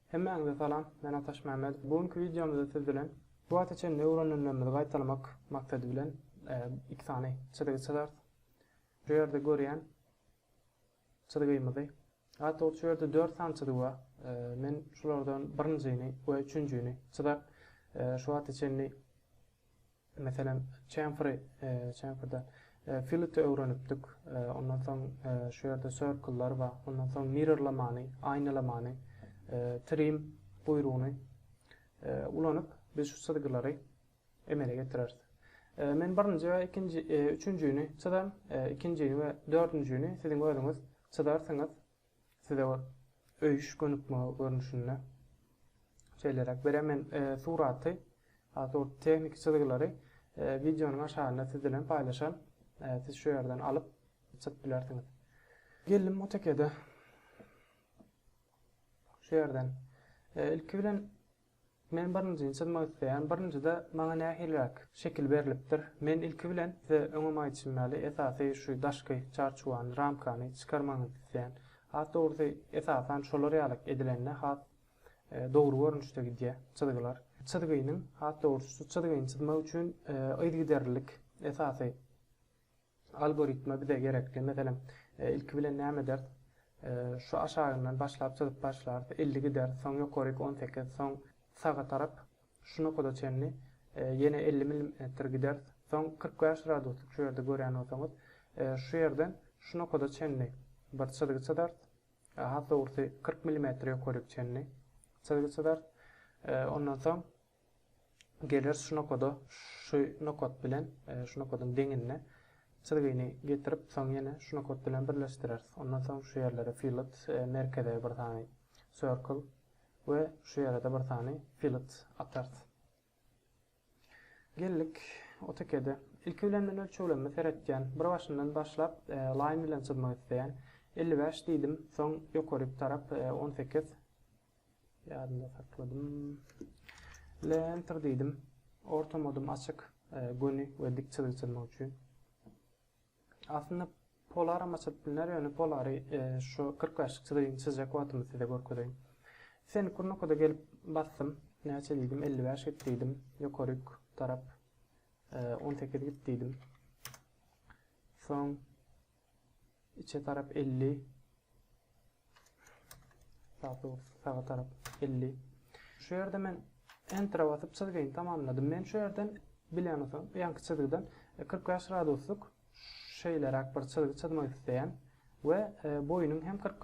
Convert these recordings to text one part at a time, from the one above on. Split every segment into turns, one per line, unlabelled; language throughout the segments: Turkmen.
Hemmäňize salam, men Ataş Mämmedow. Bu günki wideomyzda siz bilen bu wagta çenli öwrenenlerimizi gaýtalamak maksady bilen iki sany çyzygy çyzarys. Şu ýerde görýän çyzgymyzy, daha dogrusu şu ýerde dört sany çyzygy bar. Men şulardan birinjini we üçünjini çyzar. Şu wagta çenli Meselem, çemferi, çemferde fility öwrenipdik. Ondan soň şu ýerde circle-lar bar. Ondan soň mirrorlamany, aýnalamany, trim buýrugyny ulanyp, biz şu çyzgylary emele getireris. Men birinji we ikinji, üçünjini çyzaryn, ikinjini we dördünjini siziň özüňiz çyzarsyňyz. Size öýüş gönükme görnüşinde şeýleräk berer. Men suraty, asury tehniki çyzgylary wideonyň aşagynda siz bilen paýlaşan. Siz şu ýerden alyp çyzyp bilersiňiz. Geldim AutoCAD-e. Şu ýerden ilki bilen Men birinjini çyzmak isleýän. Birinjide maňa nähiliräk şekil berlipdir? Men ilki bilen size öňem aýdyşym ýaly esasy şu daşky çarçuwany, ramkany çykarmagyňyzy isleýän. Has dogrusy esasan şolar ýalak edilende has dogry görnüşde gidýär çyzgylar. Çyzgynyň, has dogrusy şu çyzgyny çyzmak üçin yzgiderlilik esasy. Algoritma bize gerekli. Meselem, ilki bilen näme ederis? Şu aşagyndan başlap çyzyp başlarys. Elli gideris, soň ýokaryk on sekiz, soň saga tarap şu nokada çenli ýene elli milimetr gideris. Soň kyrk bäş graduslyk şu ýerde görýän bolsaňyz, şu ýerden şu nokada çenli bir çyzgy çyzarys. Has dogrusy, kyrk milimetr ýokaryk çenli çyzgy çyzarys. Ondan soň Geler şu nokada şu nokat bilen şu nokadyň deňinde çyzgyny getirip soň ýene şu nokat bilen birleşdireris. Ondan soň şu ýerlere fillet merkeze bir sany circle we şu ýere-de bir sany fillet atarys. Geldik AutoCAD-e. Ilki bilen men ölçeglerime seretýän. Bir başyndan başlap line bilen çyzmak isleýän. 55 diýdim. Soň ýokaryk tarap 18. Ýadymda sakladym. Le enter diýdim. Orta modum açyk, e, göni we dik çyzygy çyzmak üçin. Aslynda polaram açyp bilner, ýöne polary e, şu 45 çyzygyny çyzjak wagtymda size görkezeýin. Sen kurnokada gelip basdym. Näçe diýdim? 55 git diýdim. Ýokaryk tarap 18 e, git diýdim. Soň Içe tarap elli. Saga tarap elli. Şu ýerde men Enter'a basyp çyzgyny tamamladym. Men şu ýerden bilen olsam, ýanky çyzgydan 45 graduslyk şeýleräk bir çyzgy çyzmak isleýän we e, boýunyň hem 40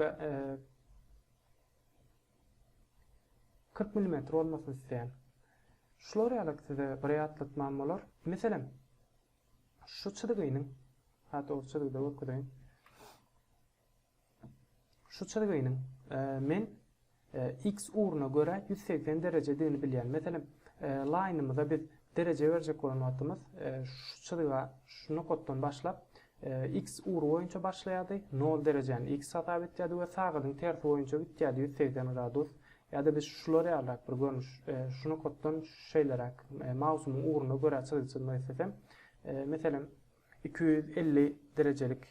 40 mm bolmasyny isleýän. Şular ýaly size bir ýatlatmam bolar. Meselem, Şu çyzgynyň, hat ol çyzgyda görkezeýin. Şu çyzgynyň men X ugruna görä ýüz segsen derejedigini bilýän. Meselem, laýnymyza biz dereje berjek bolan wagtymyz şu çyzga, şu nokatdan başlap X ugry boýunça başlaýardy, nol derejäni X hasap etýärdi we sagadyn tersi boýunça gitýärdi, ýüz segsen gradus. Ýa-da biz şular ýalyrak bir görnüş, şu nokatdan şeýleräk, mausumyň ugruna görä çyzgy çyzmak islesem, meselem, iki ýüz elli derejelik,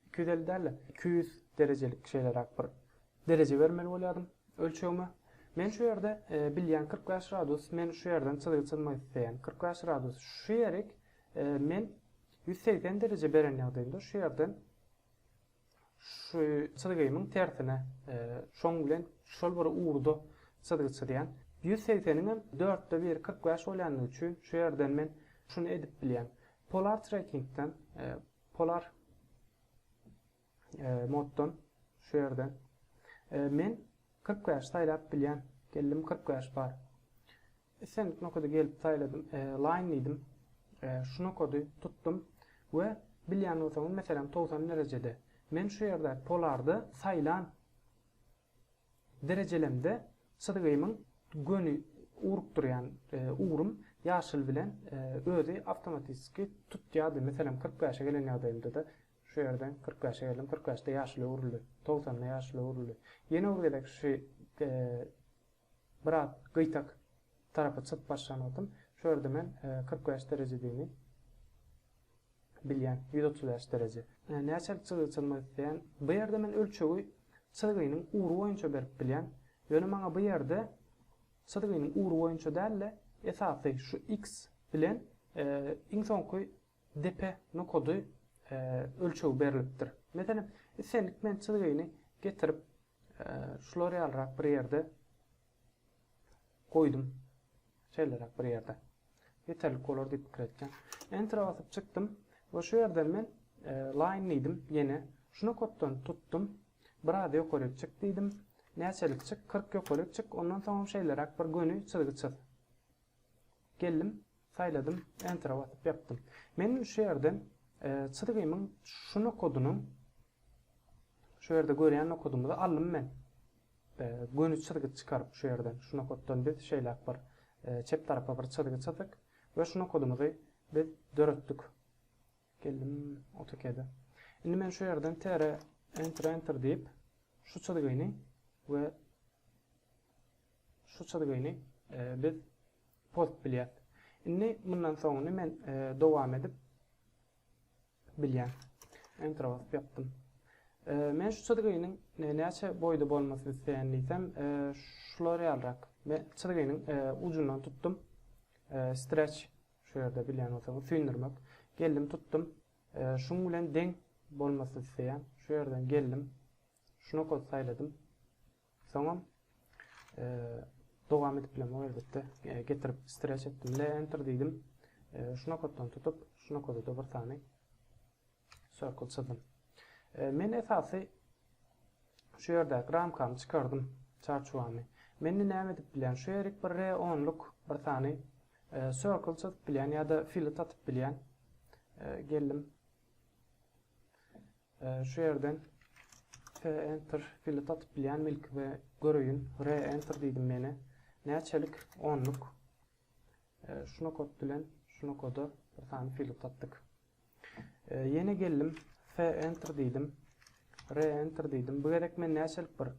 iki ýüz elli däl-de, iki ýüz derejelik şeýleräk bir dereje bermeli bolýardym ölçegime. Men şu ýerde bilýän kyrk bäş gradus, men şu ýerden çyzgy çyzmak isleýän kyrk bäş gradus, şu ýerik men ýüz segsen dereje beren ýagdaýymda şu ýerden Şu çyzgymyň tersine, şoň bilen şol bir ugurda çyzgy çyzýan. Ýüz segseniň hem dörtde biri kyrk bäş bolýandygy üçin şu ýerden men şuny edip bilýän. Polar trackingden, polar moddan şu ýerden men kyrk bäş saýlap bilýän. Geldim kyrk bäş bar. Islendik nokady gelip saýladym, Line diýdim. Şu nokady tutdum we bilýän bolsaňyz, meselem, togsan derejede. Men şu ýerdäki polardy saýlan derejelemde çyzgymyň göni urup durýan ugrym ýaşyl bilen özi awtomatiski tutýardy. Meselem, kyrk bäşe gelen ýagdaýymda-da, şu ýerden kyrk bäşe geldim, kyrk bäşde ýaşyla öwrüldi, togsanda ýaşyla öwrüldi. Ýene bir gezek şu Brat, gyýtak tarapa çykyp başlan wagtym, şu ýerde men kyrk bäş derejedigiňi bilýän, ýüz otuz bäş dereje. Näçelik çyzygy çyzmak isleýän? Bu ýerde men ölçegi çyzgynyň ugry boýunça berip bilýän. Ýöne maňa bu ýerde çyzgynyň ugry boýunça däl-de, esasy şu X bilen iň soňky depe nokady ölçegi berlipdir. Meselem, islendik men çyzgyny getirip, şular ýalyrak bir ýerde goýdum. Şeýleräk bir ýerde. Ýeterlik bolar diýip pikir etdim. Enter basyp çykdym we şu ýerden men line diýdim ýene. Şu nokatdan tutdum. Biraz ýokaryk çyk diýdim. Näçelik çyk? 40 ýokaryk çyk. Ondan soňam şeýleräk bir göni çyzgy çyz. Geldim, Saýladym, Enter-a basyp ýapdym. Men şu ýerden çyzgymyň şu nokadynyň şu ýerde görýän nokadymyzy aldym men. Göni çyzgy çykaryp şu ýerden, şu nokatdan biz şeýläk bir çep tarapa bir çyzgy çyzdyk we şu nokadymyzy biz döretdik. Geldim AutoCAD-e. Indi men şu ýerden tere enter enter diýip şu çyzgyny we Şu çyzgyny biz post bilýäs. Indi mundan soňuny men dowam edip bilýän. Enter basyp ýapdym. Men şu çyzgynyň näçe boýda bolmasyny isleýän diýsem, şular ýalyrak. Men çyzgynyň ujundan tutdum. Stretch şu ýerde bilýän bolsaňyz, süýndürmek. Geldim tutdum. Şuň bilen deň bolmasyny isleýän. Şu ýerden geldim. Şuna kod saýladym. Soňam e, dowam edip bilen elbetde e, getirip stretch etdim le enter diýdim. E, şu nokatdan tutup, şu nokada da bir sany circle çyzdym. E, men esasy şu ýerdäki ramkamy çykardym, çarçuwamy. Men näme edip bilen? Şu ýerik bir re 10 luk bir sany e, circle çyzyp bilen ýa-da filet atyp bilen. E, geldim. Şu ýerden P enter pili satyp bilýänmi ilki we göreýin. R enter diýdim meni. Näçelik? Onluk. Şu nokot bilen şu nokoda bir sany pili satdyk. Ýene geldim. F enter diýdim. R enter diýdim. Bu gerek men näçelik bir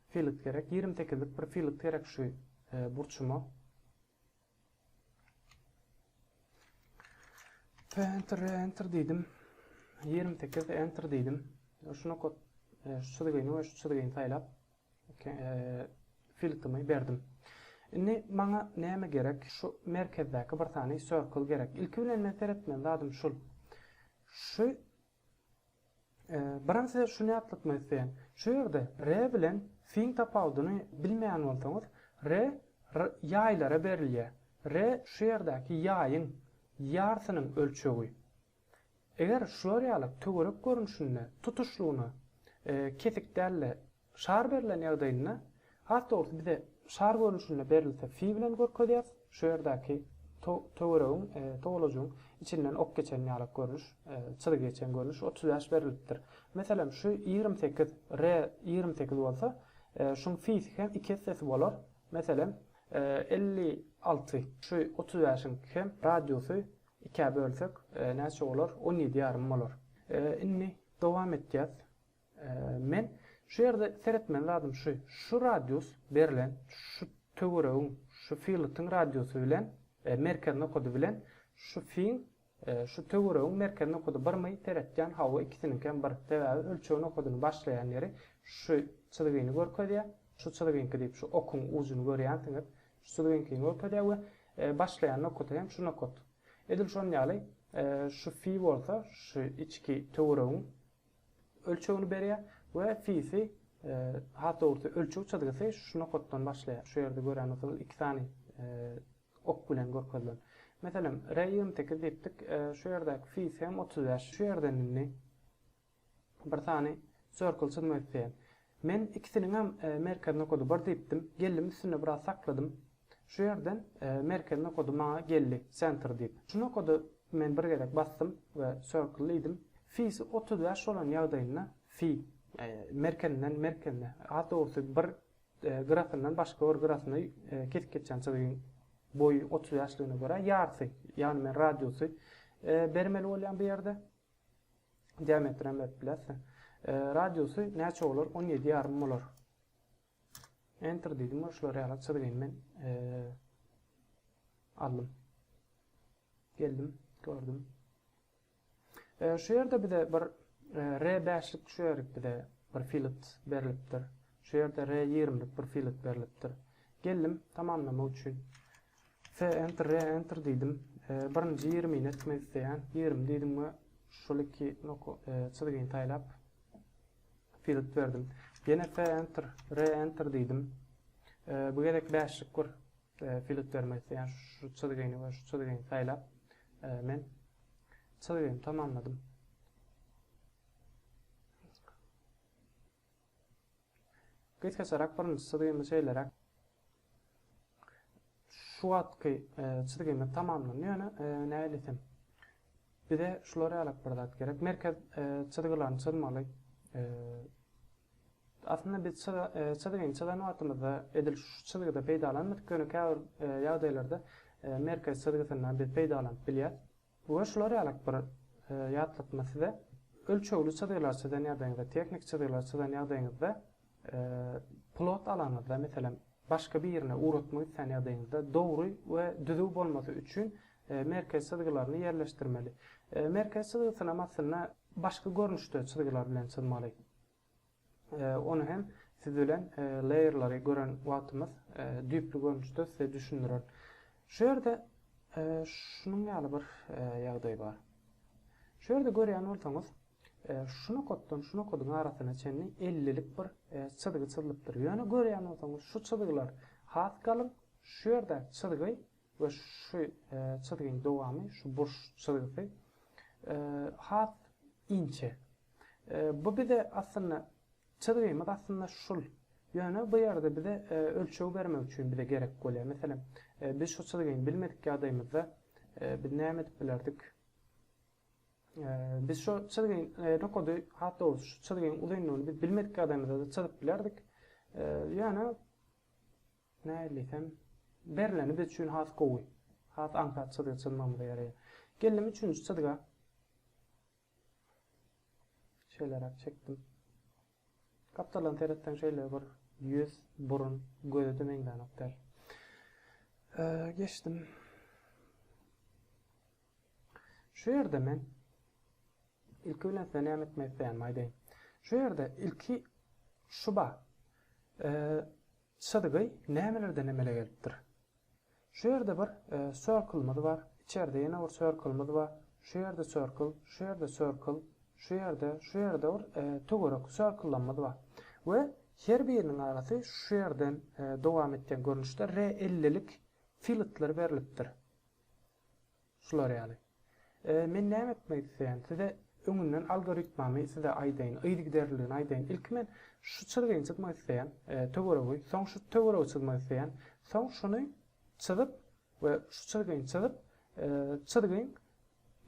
filik gerek? 28lik bir filik gerek şu burçuma. Enter, enter diýdim. 28 enter diýdim. Şu nokat e, şu çyzgyny we şu çyzgyny saýlap e, filtrimi berdim. Indi maňa näme gerek? Şu merkezdäki bir sany circle gerek. Ilki bilen men seretmeli zadym şul. Şu Birin size şuny ýatlatmak isleýän. Şu ýerde re bilen fiň tapawudyny bilmeýän bolsaňyz, re ýaýlara berilýär. Re şu ýerdäki ýaýyň ýarsynyň ölçegi. Eger şular ýaly töwerek görnüşinde tutuşlygyna kesik däl-de, Şar berlen ýagdaýynda, has dogrusy bize şar görnüşinde berilse fi bilen görkezýäris, şu ýerdäki töweregiň, towalajygyň içinden ok geçen ýalak görnüş, çyzgy geçen görnüş otuz bäş berilipdir. Meselem, şu ýigrimi sekiz, re, ýigrimi sekiz bolsa, şuň fisi hem iki essesi bolar, meselem, elli alty. Şu otuz bäşiň hem radiusy ikä bölsek, näçe bolar, on ýedi ýarym bolar. Indi dowam etýäs. Men şu ýerde seretmeli zadym şu, şu radius berlen şu töweregiň şu filutyň radiusy bilen merkez nokady bilen şu fiň şu töweregiň merkez nokady birmi? Seretýän, hawa ikisiniňkem bir. Sebäbi ölçeg nokadyny başlaýan ýeri şu çyzgyny görkezýä, şu çyzgyňky diýip şu okuň ujuny görýänsiňiz, şu çyzgyňkyny görkezýä we başlaýan nokady hem şu nokat. Edil şon ýaly şu fi bolsa şu içki töweregiň ölçegini berýär we fisi has dogrusy ölçeg çyzgysy şu nokatdan başlaýar. Şu ýerde gören bolsaňyz iki sany ok bilen görkezilen. Meselem, re 28 diýipdik. Şu ýerdäki fisi hem 35. Şu ýerden indi bir sany circle çyzmak isleýän. Men ikisiniňem merkez nokady bir diýipdim. Geldim üstünde biraz sakladym. Şu ýerden merkez nokady maňa geldi, Center diýip. Şu nokady men bir gezek basdym we Circle diýdim. Fi-si otuz bäş bolan ýagdaýynda fi merkezinden merkezine, has dogrusy bir gyrasyndan başga bir gyrasyna kesip geçýän çyzygyň boýy otuz bäşligine görä ýarysy, ýagny men radiusy bermeli bolýan bu ýerde. Diametri hem berip bilersiň. E, radiusy näçe bolar? 17 ýarym bolar. Enter diýdim we şular ýaly çyzgyny men e, aldım. Geldim, gördüm. E, şu ýerde bize bir e, R5-lik şu ýerik bize bir filet berilipdir. Şu ýerde R20-lik bir filet berilipdir. Geldim tamamlamak üçin Fe enter re enter diýdim. Birinji ýigrimi ni etmek isleýän. Ýigrimi diýdim we şol iki noka çyzgyny saýlap field berdim. Ýene fe enter re enter diýdim. Bu gezek bäşlik bir field bermek isleýän. Şu çyzgyny we şu çyzgyny saýlap men çyzgymy tamamladym. Gysgaçarak birinji çyzgymy şeýleräk şu wagtky e, çyzgymyz tamamlandy ýöne e, näýlesem bize şular ýalyk bir zat gerek merkez e, çyzgylaryny çyzmaly aslynda biz çyzgyny çyzan wagtymyzda edil şu çyzgyda peýdalanmadyk ýöne käbir ýagdaýlarda merkez çyzgysyndan biz peýdalanyp bilýäs Bu we şular ýalyk bir ýatlatma size ölçegli çyzgylary çyzan ýagdaýyňyzda, tehniki çyzgylary çyzan ýagdaýyňyzda plot alanyňyzda, meselem, başga birine ugratmak islän ýagdaýyňyzda dogry we düzüw bolmasy üçin merkez çyzgylaryny ýerleşdirmeli. Merkez çyzgysynam aslynda başga görnüşde çyzgylar bilen çyzmaly. Ony hem siz bilen layerlary gören wagtymyz düýpli görnüşde size düşündirer. Şu ýerde şunuň ýaly bir ýagdaý bar. Şu ýerde görýän bolsaňyz, şu nokatdan şu nokadyň arasyna çenli ellilik bir çyzgy çyzlypdyr. Ýöne görýän bolsaňyz şu çyzgylar has galyň, şu ýerde çyzgy we şu çyzgyň dowamy, şu burç çyzgysy has inçe. Bu bize aslynda çyzgymyz aslynda şul. Ýöne bu ýerde bize ölçeg bermek üçin bize gerek bolýar. Meselem, biz şu çyzgyny bilmedik ýagdaýymyzda biz näme edip bilerdik? Biz şu çyzgyň nokady, has dogrusy şu çyzgyň uzynlygyny biz bilmedik ýagdaýymyzda-da çyzyp bilerdik. Ýöne Nädilsem, berleni biz üçin has gowy, has aňsat çyzga çyzmagymyza ýaraýar. Geldim üçünji çyzga. Şeýleräk çekdim. Gapdaldan seretseň şeýle bir ýüz, burun, göze-de meňzänok däl. Geçdim. Şu ýerde men ilki bilen size näme etmek isleýänimi aýdaýyn. Şu ýerde ilki şu bar. Çyzgy nämelerden emele gelipdir? Şu ýerde bir circle-myz bar, içerde ýene bir circle-myz bar, şu ýerde circle, şu ýerde circle, şu ýerde, şu ýerde bir töwerek circle-lamyz bar we her biriniň arasy şu ýerden dowam etýän görnüşde R ellilik filletler berlipdir. Şular ýaly. Men näme etmek isleýän? Size öňünden algoritmamy size aýdaýyn, yzygiderliligini aýdaýyn. Ilki men şu çyzgyny çyzmak isleýän, töweregi, soň şu töweregi çyzmak isleýän, soň şuny çyzyp we şu çyzgyny çyzyp, çyzgyň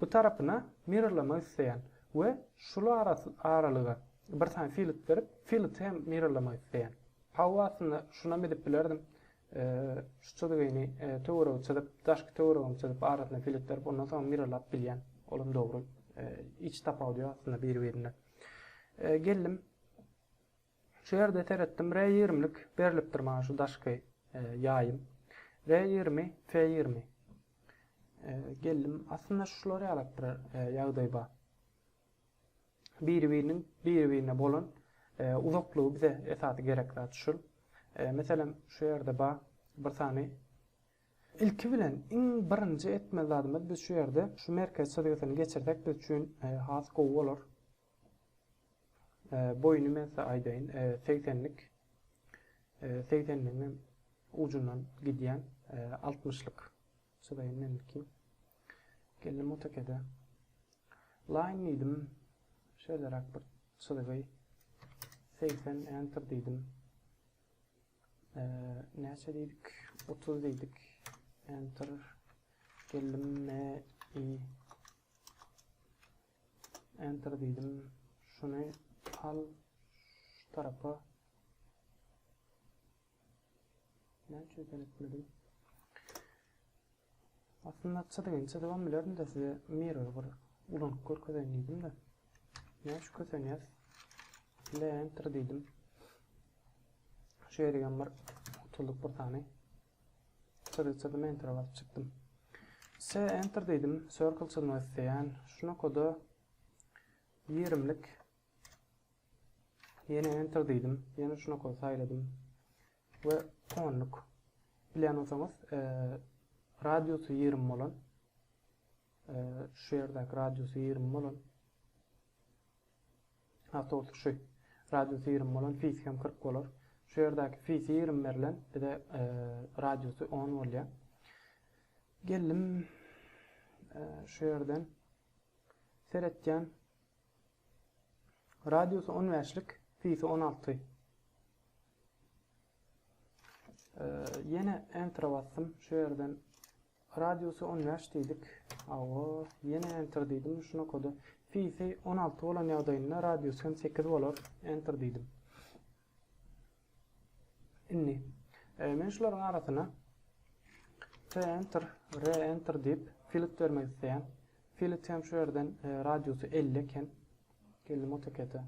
bu tarapyna mirrorlamak isleýän we şul aralyga bir sany filet berip, fileti hem mirrorlamak isleýän. Hawa aslynda şunam edip bilerdim. Şu çyzgyny töweregi çyzyp, daşky töweregini çyzyp, arasyna filet berip, ondan soň mirrorlap bilýän. Olam dogry. Hiç tapawudy ýok aslynda biri-birinden. Geldim. Şu ýerde seretdim, R20-lik berlipdir maňa şu daşky ýaýym. R20, F20. Geldim. Aslynda şular ýalakdyr ýagdaý bar. Biri-biriniň biri-birine bolan uzaklygy bize esasy gerek zat şul. Meselem, şu ýerde bar bir sany Ilki bilen iň birinji etmeli zadymyz biz şu ýerde şu merkez çyzgysyny geçirsek biz üçin has gowy bolar. Boýuny men size aýdaýyn, 80-lik. 80-ligiň ujundan gidýän 60-lyk. Çydaýyn meniňki. Geldim AutoCAD-e. Line diýdim. Şeýleräk bir çyzgy. 80 enter diýdim. Eee, näçe diýdik? 30 diýdik. Enter. Geldim me i enter diýdim. Şuny al şu tarapa Näme üçin sen etmediň? Aslynda çyzygyn çyzybam bilerin-de size mirror bir ulanyp görkezeýin diýdim-de. Näme üçin kösenýäs? Ile enter diýdim. Şu ýerigem bir utulduk bir sany. Çyzyk çyzdym, enter basyp çykdym. Se enter dedim, circle çyzmak isleýän. Şuna koda 20lik Ýene enter diýdim. Ýene şuna kod saýladym. We onluk. Bilýän bolsaňyz, e, radiusy 20 bolan e, şu ýerdäki radiusy 20 bolan Ha, tost şu. Radiusy 20 bolan fis hem 40 bolar. Şu ýerdäki fisi 20 berlen, bize e, radiusy 10 bolýar. Geldim e, şu ýerden seretýän Radiusy on bäşlik, pisi on alty. Ýene enter basdym. Şu ýerden radiusy on bäş diýdik. Awa, ýene enter diýdim. Şuna koda pisi on alty bolan ýagdaýynda radiusy hem sekiz bolar. Enter diýdim. Indi men şularyň arasyna T-Enter, R-Enter diýip filit bermek isleýän. Filit hem şu ýerden radiusy 50 eken. Geldim AutoCAD-e.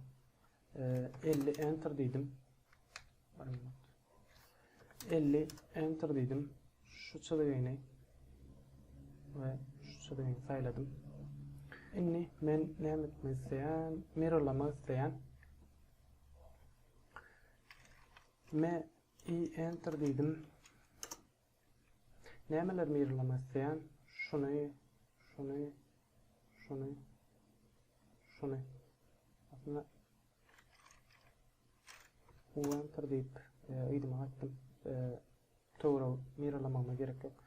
50 Enter diýdim. 50 enter diýdim. Şu çyzygyny we şu çyzygyny saýladym. Indi men näme etmek isleýän? Mirrorlamak isleýän. Me i enter diýdim. Nämeler mirrorlamak isleýän? Şuny, şuny, şuny, şuny. Aslında Ulantyr diýip, ýygyma gaýtdym. Töwra miralamagyma gerek ýok.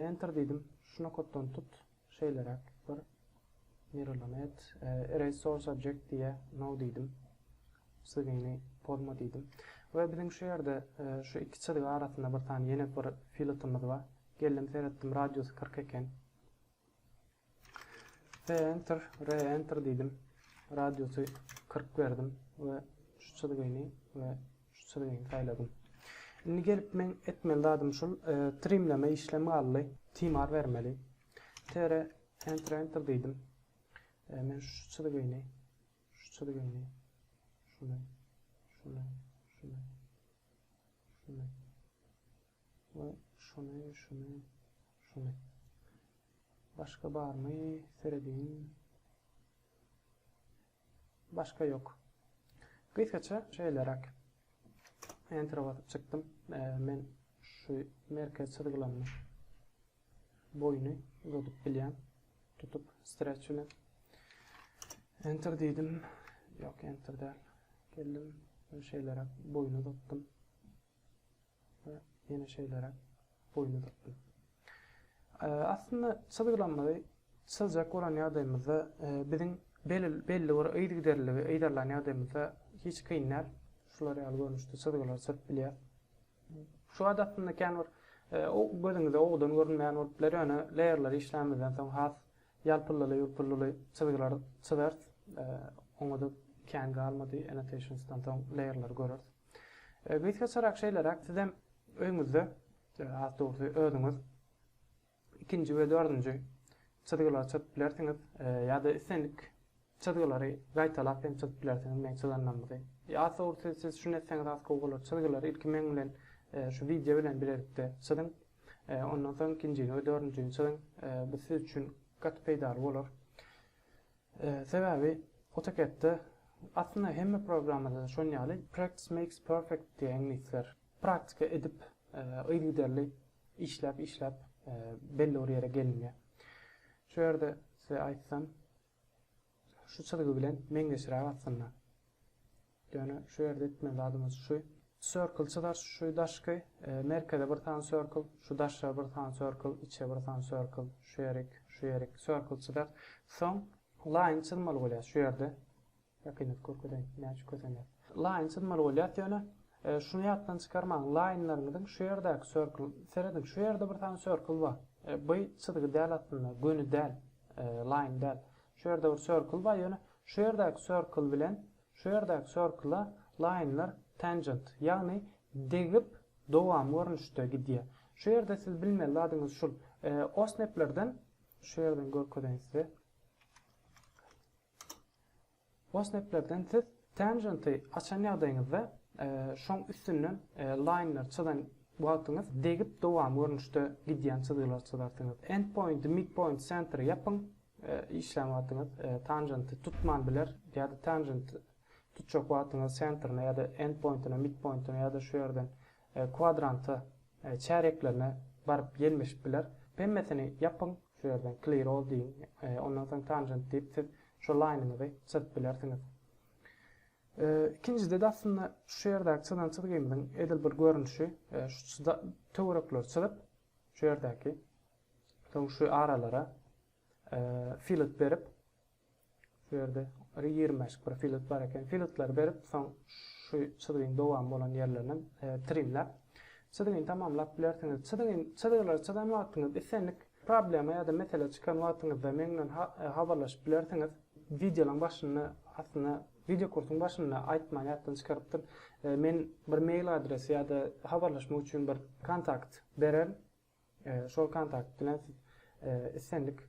Enter diýdim. Şu nokatdan tut, şeýleräk bir miralama et. Erase source object diýe no diýdim. Sygyny pozma diýdim. We biziň şu ýerde şu iki çyzgy arasynda bir sany ýene bir filetimiz bar. Geldim seretdim, radiusy 40 eken. Re-enter, re-enter diýdim. Radiusy 40 berdim we şu çyzgyny we şu çyzgyny saýladym. Indi gelip men etmeli zadym şul, e, trimleme işlemi galdy. Timar bermeli. Tere enter enter diýdim. E, men şu çyzgyny, şu çyzgyny, şuny, şuny, şuny, şuny, Bu şuny şuny şuny. Başga barmy serediň. Başga ýok. Gysgaça şeýleräk. Enter basyp çykdym. Men şu merkez çyzgylaryny boýuny uzadyp bilýän. Tutup stretch bilen. Enter diýdim. Ýok, enter däl. Geldim. Şeýleräk boýuny uzatdym. we ýene şeýleräk boýny uzakdy. Aslynda çyzgylanmady. Çyzjak bolan ýagdaýymyzda e, biziň belli bir yzgiderliligi yzarlan ýagdaýymyzda hiç kyn däl. Şular ýaly görnüşde çyzgylar çyzyp bilýär. Şu wagt aslynda kän bir e, gözüňize owdan görünmeýän bolup biler, ýöne leýerleri işlämizden soň has Ýalpyllyly ýulpyllyly çyzgylar çyzars, oňa-da kän galmady, Annotations-dan soň Layer-lary göreris. Gysgaçarak şeýleräk, sizem öýňüzde, has dogrusy, özüňiz ikinji we dördünji çyzgylary çyzyp bilersiňiz, ýa-da islendik Çyzgylary gaýtalap hem çyzyp bilersiňiz meň çyzanlarymyzy. Ýa sowrusy siz şuny etseňiz has gowy bolar. Çyzgylary ilki meň bilen şu wideo bilen bilelikde çyzyň. Ondan soň ikinjini we dördünjini çyzyň. Bu siz üçin gaty peýdaly bolar. Sebäbi AutoCAD-de aslynda hemme programmada-da şon ýaly practice makes perfect diýýär iňlisler. Praktika edip yzygiderli işläp işläp belli bir ýere gelinýär. Şu ýerde size aýtsam Şu çyzgy bilen meňzeşräk aslynda. Ýöne şu ýerde etmeli zadymyz şu. Circle çyzar şu daşky, merkeze bir sany circle, şu daşa bir sany circle, içe bir sany circle, şu ýerik, şu ýerik, circle çyzar. Soň line çyzmaly bolýar şu ýerde. Ýakynat görkezeýin, näçe kösener. Line çyzmaly bolýat ýöne şuny ýatdan çykarmaň lineleriňiziň şu ýerdäki circle serediň şu ýerde bir sany circle bar by çyzgy däl aslynda göni däl line däl şu ýerde bir circle bar ýöne şu ýerdäki circle bilen şu ýerdäki circle lineler tangent ýagny degip dowamy görnüşde gidýär şu ýerde siz bilmeli zadyňyz şul osneplerden şu ýerden görkezeýin size Wassneplerden siz Tangent-i açan ýagdaýyňyzda, şoň üstünden Line-leri çyzan wagtyňyz degip dowamy görnüşde gidýän çyzgylary çyzarsyňyz. Endpoint-i, Midpoint-i, Center-i ýapyň, işlän wagtyňyz Tangent-i tutman biler ýa-da Tangent-i tutjak wagtyňyz Center-ine ýa-da Endpoint-ine, Midpoint-ine ýa-da şu ýerden Kwadrantda çäreklerine baryp ýelmeşip biler. Pemmesini ýapyň, şu ýerden clear all diýiň. Ondan soň tangent diýip siz şu laýnyňyzy çyzyp bilersiňiz. Ikinjide-de aslynda şu ýerdäki çyzan çyzgymyzyň edil bir görnüşi, şu töwerekleri çyzyp, şu ýerdäki, soň şu aralara fillet berip, Şu ýerde bir ýigrmäşik bir filet bar eken. Filetleri berip, soň şu çyzgyň dowamy bolan ýerlerine trimläp, çyzgyny tamamlap bilersiňiz. Çyzgyny, çyzgylary çyzan wagtyňyz islendik problema ýa-da mesele çykan wagtyňyzda meň bilen habarlaşyp bilersiňiz. Wideolaryň başynda, aslynda, wideokursyň başynda aýtman ýatdan çykarypdym. Men bir mail adresi ýa-da habarlaşmak üçin bir kontakt bererin. Şol kontakt bilen siz islendik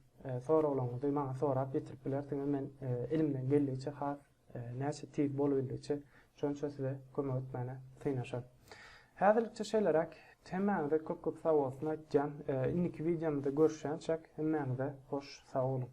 soraglaryňyzy maňa sorap ýetirip bilersiňiz. Men elimden geldigiçe has näçe tiz bolubildigiçe şonça size kömek etmäne synanyşaryn. Häzirlikçe şeýleräk. Hemmäňize köp-köp sagbolsun aýtýan. Indiki wideomyzda görüşýänçäk hemmäňize hoş sag boluň.